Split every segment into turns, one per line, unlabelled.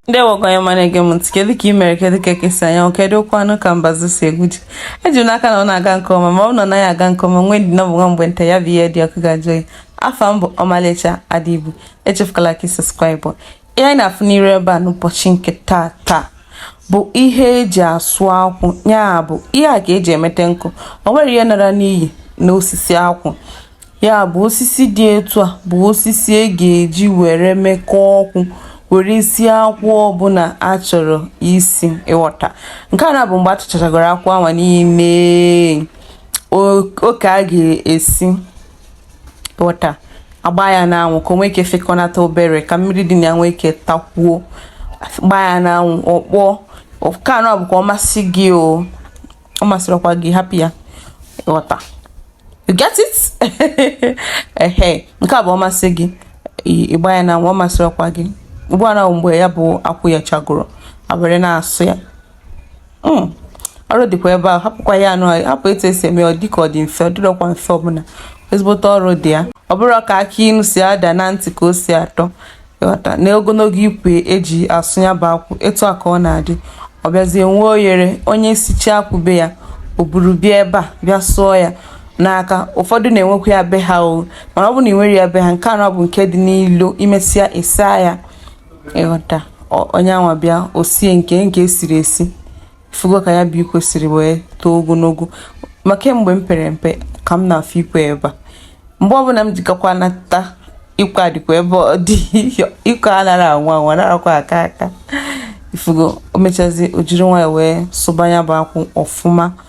ndị ọma na-ege m ntị kedu ka ị mere kedu ka eke si anya anwụ kedukwanụ ka mbazu si egwu ji eji m n'aka na ọ na-aga nke ọma ma ọ na ọ naghị aga nke ọma nwee ndidi na ọ bụ nwa mgbe nta ya bụ ihe dị ọkụ ga-ajụ oyi afa m bụ ọmalịcha adịbu echefukwala ka ị subscribe ihe anyị na-afụ n'iru ebe a n'ụbọchị nke taa taa bụ ihe eji asụ akwụ ya bụ ihe a ka eji emete nkụ o nwerọ ihe nara n'iyi na osisi akwụ ya bụ osisi dị etu a bụ osisi a ga-eji were mekọọ ọkụ were sie akwụ ọbụla a chọrọ isi ịghọta nke a nụ bụ mgbe a tụchachagoro akwụ anwa niine oke a ga-esi wọta agba ya n'anwụ ka o nwee ike fịkọnata obere ka mmiri dị na ya nwee ike takwuo gbaa ya n'anwụ ọ kpọọ nke a nụ bụ ọ masị gị o ọ masịrịkwa gị hapụ ya ghọta you get it ehe nke a bụ ọ masị gị ị gbaa ya n'anwụ ọ masịrịkwa gị ugbu a na mgbe ya bụ akwụ yechagoro e were na-asụ ya hmm. ọrụ dịkwa ebe ahụ hapụkwa ya nụ hapụ etu esi eme ọ dịka ọ dị mfe ọ dịrọkwa mfe ọbụla ezigbote ọrụ dị ya ọ bụrọ ka akụ inu si ada na ntị ka o si atọ ịghọta na ogologo ikwe eji asụ ya bụ akwụ etu a ka ọ na-adị ọ bịazie nwee oyere onye sicha akwụ be ya o buru bịa ebe a bịa sụọ ya n'aka ụfọdụ na-enwekwa ya be ha o mana ọ bụ na ị nwere ya be ha nke a nụ bụ nke dị n'ilo i mesịa ị saa ya ịghọta onye anwa bịa o sie nke nke esiri esi ị fụgo ka ya bụ ikwe siri wee too ogologo ma kemgbe m pere mpe ka m na-afụ ikwe ebe a mgbe ọbụla m jikọkwa nata ikwe adịkwa ebe ọ dị ikwe anara anwụ anwụ anarakwa aka aka ị fụgo o mechazi o jiri nwayọ wee sụba ya bụ akwụ ọfụma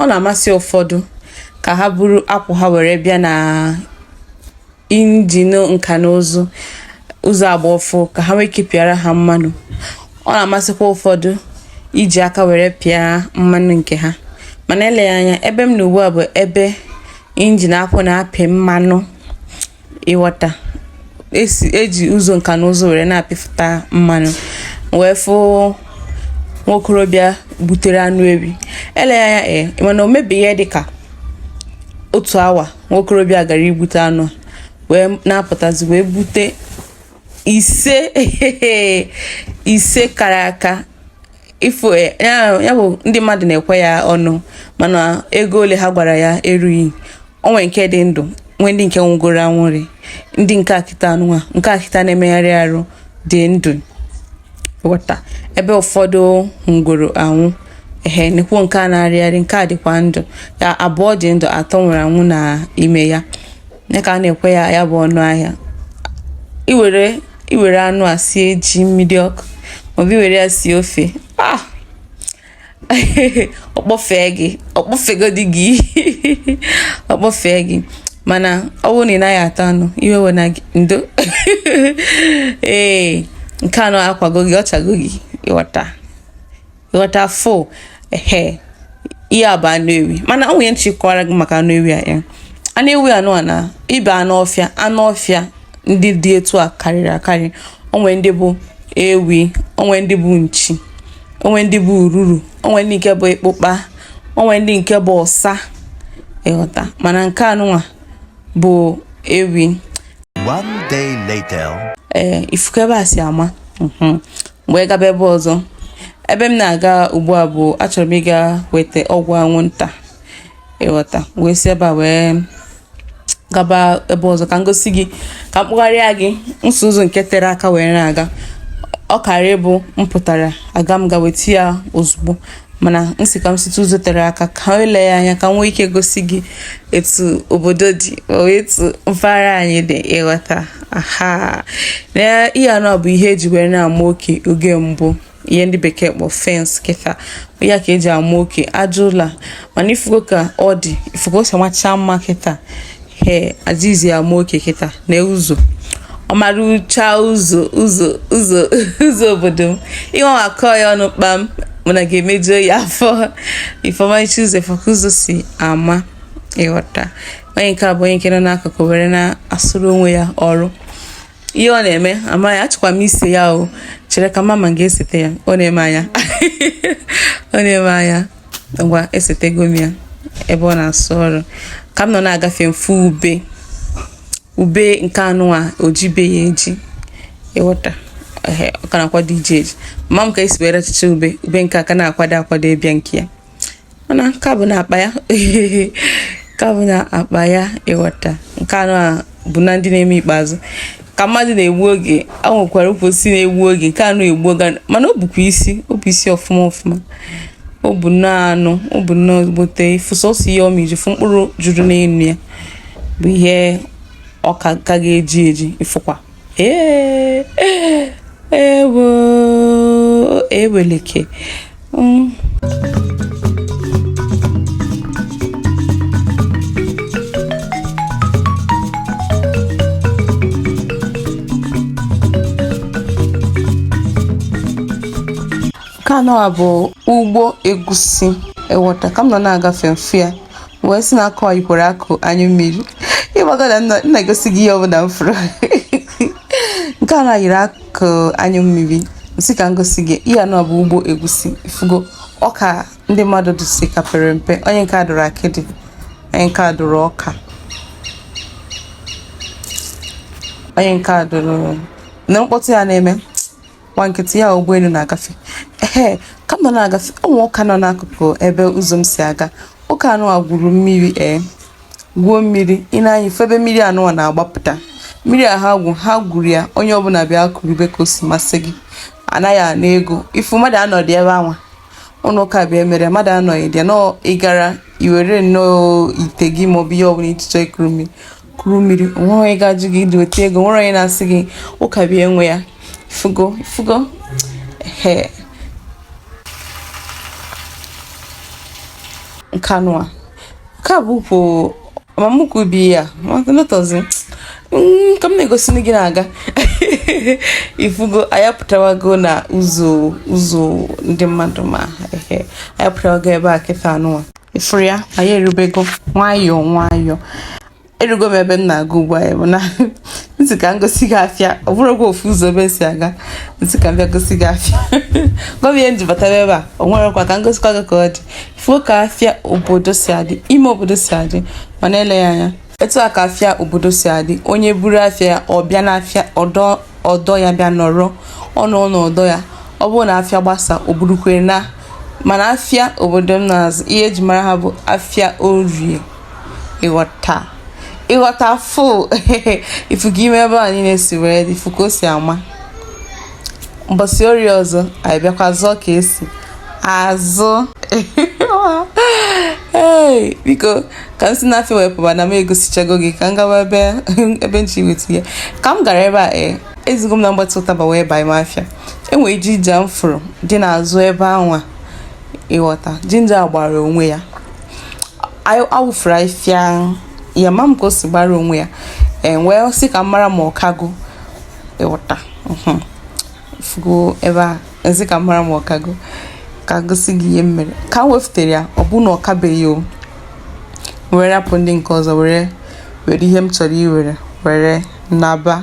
ọ na-amasị ụfọdụ ka ha buru akwụ ha were bịa na injin nka na ụzụ ụzọ agba ọfụụ ka ha nwee ike pịara ha mmanụ ọ na-amasịkwa ụfọdụ iji aka were pịa mmanụ nke ha mana eleghị anya ebe m nọ ugbu a bụ ebe injin akwụ na-apị mmanụ ịghọta esi eji ụzọ nka na ụzụ were na-apịfụta mmanụ wee fụ nwa okorobịa butere anụ ewi eleghị anya ee eh, mana o mebeghị ihe dịka otu awa nwa okorobịa gara igbute anụ wee na-apụtazi wee bute ise kara aka ị fụ eh, ya bụ ndị mmadụ na-ekwe ya ọnụ mana ego ole ha gwara ya erughị o nwere nke dị ndụ nwee ndị nke nwụgoro anwụrị ndị nke a kịta anụnwa nke a kịta na-emegharị arụ dị ndụ ịghọta ebe ụfọdụ nwụgoro anwụ ehe nekwu nke a na-arịgharị nke a dịkwa ndụ ya abụọ dị ndụ atọ nwụrụ anwụ na ime ya ya ka a na-ekwe ya ya bụ ọnụ ahịa i were i were anụ a sie ji mmiri ọkụ maọbụ i were ya sie ofe ah ọ kpọfee gị ọ kpọfegodi gị ọ kpọfee gị mana ọ bụrụ na ị naghị ata anụ iwe ewena gị ndo ee nke anụ akwago gị ọ chago gị ịghọta ịghọta fo ehe ihe a bụ anụ ewi mana o nwere ihe m chọ ịkọwara gị maka anụ ewi a ya anụ ewi anụ a na ibe anụ ọfịa anụ ọfịa ndị dị etu a karịrị akarị o nwe ndị bụ ewi o nwe ndị bụ nchi o nwe ndị bụ ururu o nwe ndị nke bụ ịkpụkpa o nwe ndị nke bụ ọsa ịghọta mana nke anụnwa bụ ewi
One day later. ee ị fụ ka ebe
a si ama mhm. m wee gaba ebe ọzọ ebe m na-aga ugbu a bụ achọrọ m ịga weta ọgwụ anwụnta ịghọta wee si ebe a wee gaba ebe ọzọ ka m gosi gị ka m kpọgharịa gị si ụzọ nke tere aka wee na-aga ọ kara ịbụ m pụtara aga m ga weta ya ozugbo mana m sị ka m site ụzọ tere aka ka m lee anya ka m nwee ike gosi gị etu obodo dị etu mpaghara anyị dị ịghọta aha na ihe anụ bụ ihe e ji were na-ama oke oge mbụ ihe ndị bekee kpọ fence kịta ya ka e ji ama oke aja ụlọ mana ị fụgo ka ọ dị ị fụ ka o si amacha mma kịta ihe e jizi ama oke kịta na ụzọ ọmarịcha ụzọ ụzọ ụzọ ụzọ obodo m ihe ọ akọ ya ọnụ kpam mana ga-emejuo ya afọ ifeọmachi ụzọ ị fụ ka ụzọ si ama ịghọta onye nke a bụ onye nke nọ n'akụkụ were na-asụrụ onwe ya ọrụ ihe ọ na-eme amaghị achọkwa m ise ya o chere ka mama ga-esete ya ọ na-ene m anya ọ na-ene m anya ngwa esetego m ya ebe ọ na-asụ ọrụ ka m nọ na-agafe m fụ ube ube nke anụ a o jibeghị eji ịghọta ọ ka na-akwado iji eji mama m ka e si were achịcha ube ube nke a ka na-akwado akwado ịbịa nke ya mana nke a bụ na akpa ya nke a bụ na akpa ya ịghọta nke anụ a bụ na ndị na-eme ikpeazụ ka mmadụ na-egbu oge e nwekwara ukwu osisi na-egbu oge nke anụ egbu oge mana o bukwa isi o bu isi ọfụma ọfụma o bu nnọọ anụ o bu nnọọ ezigbote ivu sọsọ ihe ọ miji fụ mkpụrụ juru n'elu ya bụ ihe ọ ka ga-eji eji ịfụkwa ee ee ewo eweleke Mm. nke anụwa bụ ugbo egusi ịghọta ka m nọ na-agafe m fụ ya wee sị na akụ yikwara akụ anyụ mmiri ị mago na m na-egosi gị ihe ọbụla m fụrụ nke a na yiri akụ anyụ mmiri m sị ka m gosi gị ihe anụwa bụ ugbo egusi fugo ọka ndị mmadụ dụsị ka pere mpe onye nke a dụrụ akịdị onye nke a dụrụ ọka onye nke a dụrụ na mkpọtụ ya na-eme nwa nkịtị ya ụgbọelu na-agafe ee ka m nọ na-agafe ụnọ ụka nọ n'akụkụ ebe ụzọ m si aga ụka anụwa gwuru mmiri ee eh, gwuo mmiri ị nee anya ị fụ ebe mmiri anụwa na-agbapụta mmiri a ha gwụ ha gwuru ya onye ọbụla bịa kurube ka o si masị gị anaghị ana ego ifu mmadụ anọdị ebe anwa ụlọ ụka bụ ya mere mmadụ anọghị dị nọọ ịgara iwere nnọọ ite gị maọbụ ihe ọbụla i ji chọọ ikuru mmiri kuru mmiri onwere onye ga-ajụ gị ịdị weta ego onwere onye na-asị gị ụka bụ ya nwe ya ifugo ifugo ee nkanụa nke a bụ ukwu amamukwu bi ya lọtọzi mm, ka m na-egosi gị na-aga ifugo anyị apụtawago na ụzọ ụzọ ndị mmadụ ma anyị apụtawago ebe a kịta anụwa ifuru ya anyị erubego nwayọọ nwayọọ erugo m ebe m na-aga ugbu a bụ na m sị ka m gosi gị afịa ọ bụrụ gị ofu ụzọ ebe si aga m sị ka m bịa gosi gị afịa ọ bụ ya m ji batara ebe a o nwere kwa ka m gosikwa gị ka ọ dị fụọ ka afịa obodo si adị ime obodo si adị ma na-ele ya anya etu a ka afịa obodo si adị onye buru afịa ya ọ bịa n'afịa ọdọ ọdọ ya bịa nọrọ ọnụ ọnụ ọdọ ya ọ bụrụ na afịa gbasa o burukwa ya naa mana afịa obodo m na-azụ ihe eji mara ha bụ afịa orie ịghọta ịghọta fụ ifugo ime ebe a niile si wee dị ị fụ ka o si ama mbọsị orie ọzọ anyị bịakwa zụọ ka esi azụ ee biko ka m si na afịa wepụba na m egosichago gị ka m gawa ebe ebe m si weta ya ka m gara ebe a ee ezigo m na mgbatị ụtaba wee baa ime afịa enwere jinja m fụrụ dị n'azụ ebe anwa ịghọta jinja gbara onwe ya awụfuru afịfịa ma m ka o si gbara onwe ya m wee sị ka m mara ma ọ kago ịghọta fugo ebe a m sị ka m mara ma ọ kago ka gosi gị ihe m mere ka m wefutere ya ọ bụ na ọ kabeghị o were rapụ ndị nke ọzọ were were ihe m chọrọ iwere were naba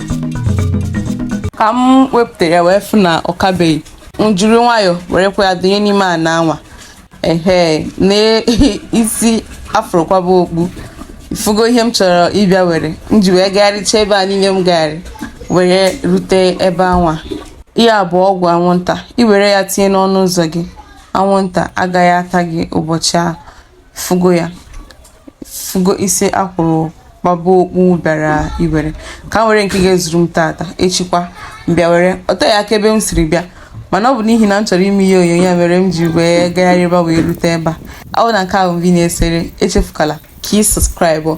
ka m wepụtara ya wee fụ na ọ kabeghị m jiri nwayọọ werekwa ya dụnye n'ime ana anwa ehe na isi a fụrụ kwaba okpu ị fụgo ihe m chọrọ ịbịa were m ji wee gagharịcha ebe a niile m gagharị were rute ebe anwa ihe a bụ ọgwụ anwụnta i were ya tinye n'ọnụ ụzọ gị anwụnta agaghị ata gị ụbọchị ahụ fụgo ya fụgo isi akwụrụ gbaba okpu bịara iwere ka m were nke ga-ezuru m tata echikwa m bịa were o teghị aka ebe m siri bịa mana ọ bụ n'ihi na m chọrọ ime ihe onyonyo a mere m ji wee gagharịba wee rute ebe a ọ bụ na nke a bụ mbụ ị na-esere echefukala ka ị subscribe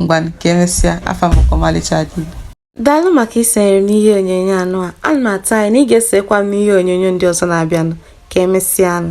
ngwanụ ka emesịa afa m ọmalịcha dị daalụ
maka isonyere m n'ihe onyonyo anụ a ana m atụ anya na ị ga-esekwa m n'ihe onyonyo ndị ọzọ na-abịanụ ka emesịanụ